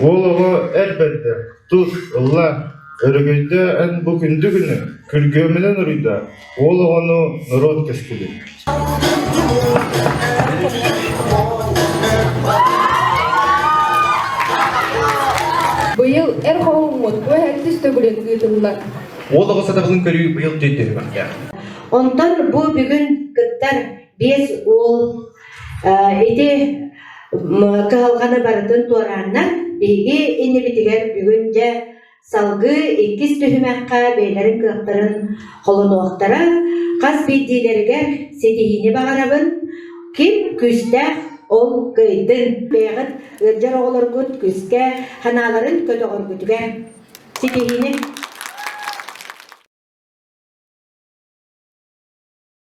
Уол оҕо эр бэрдэ, тус, ылла, өрөгөйдө эн бу күндү күнү, күргүөмүнэн уруйда, уол оҕону норуот кэскилин. Быйыл эр хоһуммут туоһэрдис төгүлүн ыытыллар. Уол оҕо сатабылын көрүү быйыл төйдөрүмэхтээх. Онтон бу бүгүн кыттар Биэс уол ити кыһалҕаны барытын туорааннар биһиги иннибитигэр бүгүн дьэ салгыы иккис түһүмэххэ бэйэлэрин кыахтарын холонуохтара. Хас биирдиилэригэр ситиһиини баҕарабын. Ким күүстээх, ол кыайдын. Бэйэҕит ыалдьар оҕолоргут күүскэ ханааларын көтөҕөргүтүгэр ситиһиини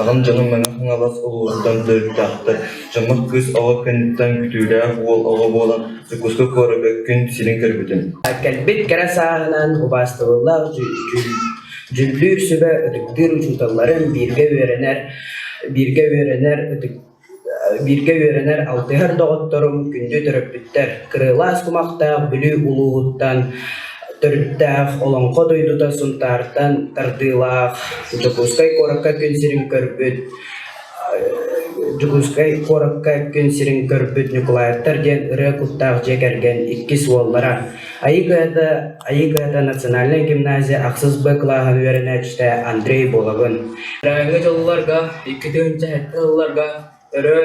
Аҕам дьонум Мэҥэ Хаҥалас улууһуттан төрүттээхтэр, дьоммут кыыс оҕо кэнниттэн күтүүлээх уол оҕо буолан Дьокуускай куораккын сирин көрбүтүм Кэлбит кэрэ сааһынан убаастабыллаах дьүүллүүр сүбэ ытыктыыр учууталларын бииргэ үөрэнэр бииргэ үөрэнэр Бииргэ үөрэнэр алтыһар доҕотторум күндү төрөппүттэр кырыылаах кумахтаах Бүлүү улууһуттан, төрүттээх Олоҥхо дойдута Сунтаартан тардыылаах Дьокуускай куоракка күн сирин көрбүт Дьокуускай куоракка күн сирин көрбүт Ньукулаевтар диэн ырыа куттаах дьиэ кэргэн иккис уоллара Айыгыада Айыгыада национальнай гимназия ахсыс Б кылааһа үөрэнээччитэ Андрей Бологун Бырайыгы дьылларга икки тыһыынча сэттэ сылларга өрө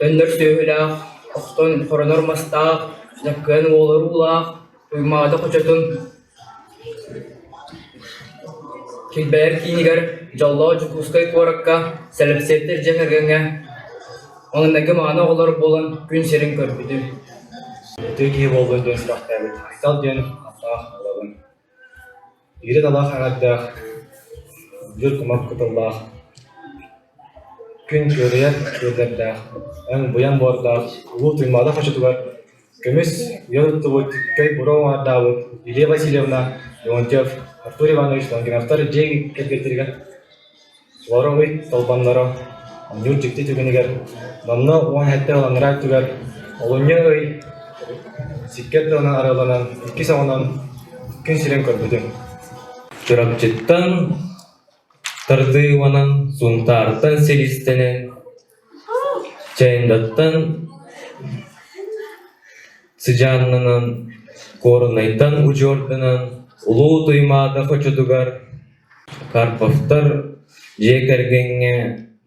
өннөр сүөһүлээх, охтон хоронор мастаах, Дьөккөөн уолуруулаах, Туймаада хочотун Килбэйэр киинигэр Дьоллоох Дьокуускай куоракка сэлэпсиэттэр дьиэ кэргэҥҥэ маҥнайгы мааны оҕолор буолан күн сирин көрбүтүм Ытык киһи буолбут үөстээхтээбит Айсал диэн ааттаах оҕобун. Иирит алаах аҥардаах, үрдүк кумах кытыллаах Күн ыарыйар ыырдардаах, эн буйан буордаах улуу Туймаада хочотугар көмүс үйэ туттубут көй бура уҥаардаабыт Илья Васильевна Леонтьев, Артур Иванович Лангеновтар дьиэ кэргэттэригэр олороҕуй толбонноро, онньуур дьикти түгэнигэр, номно уон сэттэ ыланнара өттүгэр олунньу ый сиккэр тылынан арыалланан иккис оҕонон күн сирин көрбүтүм. Чурапчыттан Тардыыбанан Сунтаартан силистэнэн, Чайдаттан сыдьааннанан, Горнайтан удьуорданан, Улуу Туймаада хочутугар Карповтар дьиэ кэргэҥҥэ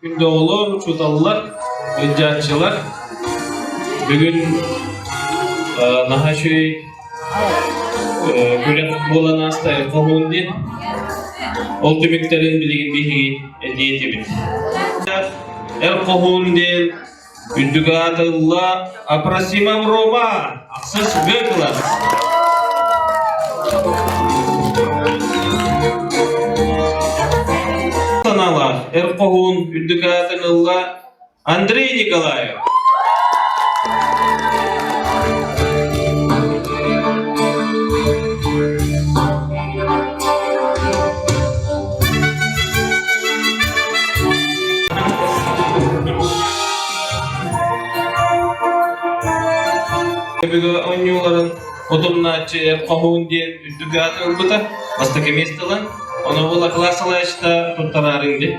Доҕолоор, учууталлар, ылдьааччылар, бүгүн наһаа үчүгэй күрэх буолан ааста коммун диэн. Ол түмүктэрин билигин биһиги этии этибит. Эл Хоһуун диэн Күндүк аатылла Апросимам Рома! Ахса сүбэ ылар. Саналар Эр Хоһуун Үрдүк аатын ылла Андрей Николаев. Эбигэ оонньууларын утумнааччы эр хоһуун диэн үрдүк ааты ылбыта. Бастакы место ылан, ону була классалаачта туттараарыҥ диэн.